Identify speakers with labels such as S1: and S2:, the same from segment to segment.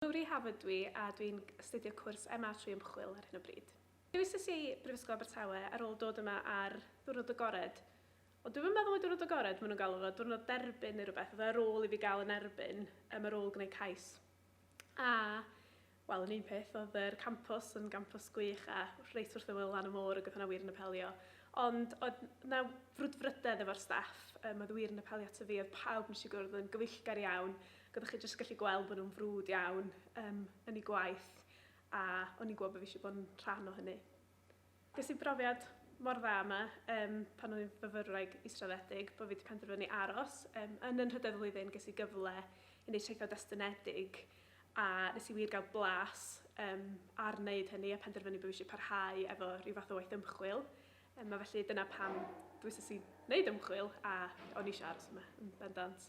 S1: Cymru Harvard dw i a dw i'n astudio cwrs MA trwy ymchwil ar hyn o bryd. Dewis es i i Brifysgol Abertawe ar ôl dod yma ar ddiwrnod agored, ond dwi'm yn meddwl mai diwrnod agored maen nhw'n galw fo, diwrnod derbyn neu rywbeth, oedd o ar ôl i fi gael yn erbyn yym ar ôl gwneud cais. A wel yn un peth oedd yr campws yn gampws gwych a reit wrth ymyl lan y môr ac oedd hwnna wir yn apelio. Ond oedd 'na frwdfrydedd efo'r staff, yym oedd wir yn apelio ato fi, oedd pawb wnes i gwrdd yn gyfeillgar iawn Oeddech chi jyst gallu gweld bod nhw'n frwd iawn um, yn ei gwaith a o'n i'n gwybod bod fi eisiau bod yn rhan o hynny. Ges i brofiad mor dda yma um, pan o'n i'n fyfyrwraig israddedig bod fi wedi penderfynu aros. Um, yn y nhrydedd flwyddyn ges i gyfle i wneud traethau destynedig a nes i wir gael blas um, ar wneud hynny a penderfynu bod fi eisiau parhau efo rhyw fath o waith ymchwil. Um, a felly dyna pam dwi'n sy'n wneud ymchwil a o'n i eisiau aros yma yn bendant.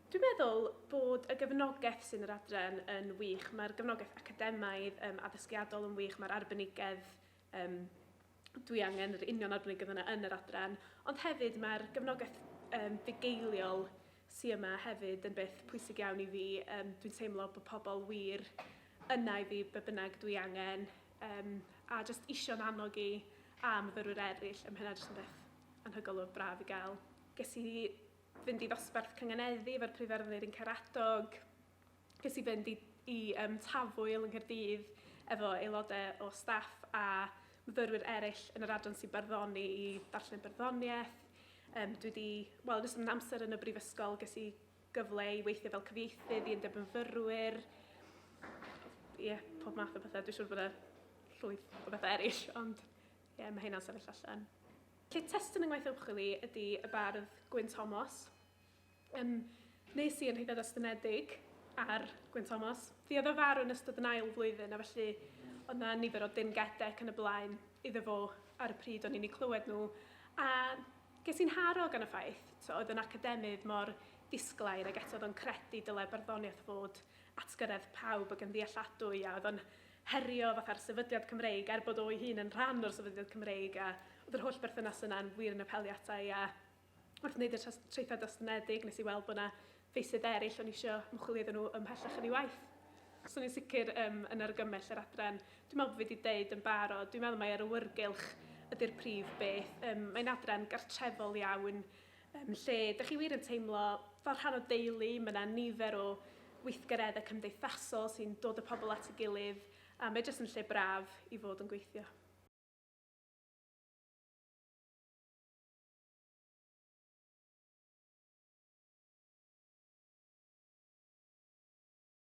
S1: Dwi'n meddwl bod y gefnogaeth sy'n yr adran yn wych. Mae'r gefnogaeth academaidd, um, addysgiadol yn wych, mae'r arbenigedd um, dwi angen yr union arbenigedd yna yn yr adran, ond hefyd mae'r gefnogaeth um, fugeiliol sy yma hefyd yn beth pwysig iawn i fi. Um, dwi'n teimlo bod pobl wir yna i fi be bynnag dwi angen um, a jyst isio'n annog i a myfyrwyr eraill ym Mhenna jyst yn beth anhygol o braf i gael. Ges i fynd i ddosbarth Cynganeddi efo'r Prifyrddwyr yn Caradog. Ges i fynd i i um, Tafwyl yng Nghaerdydd efo aelodau o staff a myfyrwyr eraill yn yr adran sy'n barddoni i ddarllen barddoniaeth. Um, dwi wedi, wel, yn ystod yn amser yn y brifysgol, ges i gyfle i weithio fel cyfieithydd i undeb myfyrwyr. Ie, yeah, pob math o bethau. Dwi'n siŵr bod yna llwyth o bethau eraill, ond ie, yeah, mae hynna'n sefyll allan. Cyd-testun yng ngwaith ymchwil i ydy y bardd Gwyn Thomas. Ym Nes i yn rhedeg estynedig ar Gwyn Thomas. Fi oedd o farw yn ystod yn ail flwyddyn a felly oedd na nifer o dim gede ac yn y blaen iddo fo ar y pryd o'n i'n eu clywed nhw a ges i'n haro gan y ffaith t'o' oedd yn academydd mor disglair ag eto oedd o'n credu dylai barddoniaeth fod atgyredd pawb ag yn ddealladwy a oedd o'n herio fatha'r sefydliad Cymreig, er bod o'i hun yn rhan o'r sefydliad Cymreig, a oedd yr holl berthynas yna yn wir yn apelio ata i, a wrth wneud y tras- traethau dostynnedig, nes i weld bod yna feysydd eraill o'n i eisiau ymchwilio iddyn nhw ymhellach yn ei waith. So ni'n sicr um, yn argymell yr adran. Dwi'n meddwl bod fi wedi deud yn barod, dwi'n meddwl mai yr awyrgylch ydy'r prif beth. Um, mae'n adran gartrefol iawn, Yn lle, dych chi wir yn teimlo fel rhan o deulu, mae yna nifer o weithgareddau cymdeithasol sy'n dod y pobl at ei gilydd a mae jyst yn lle braf i fod yn gweithio.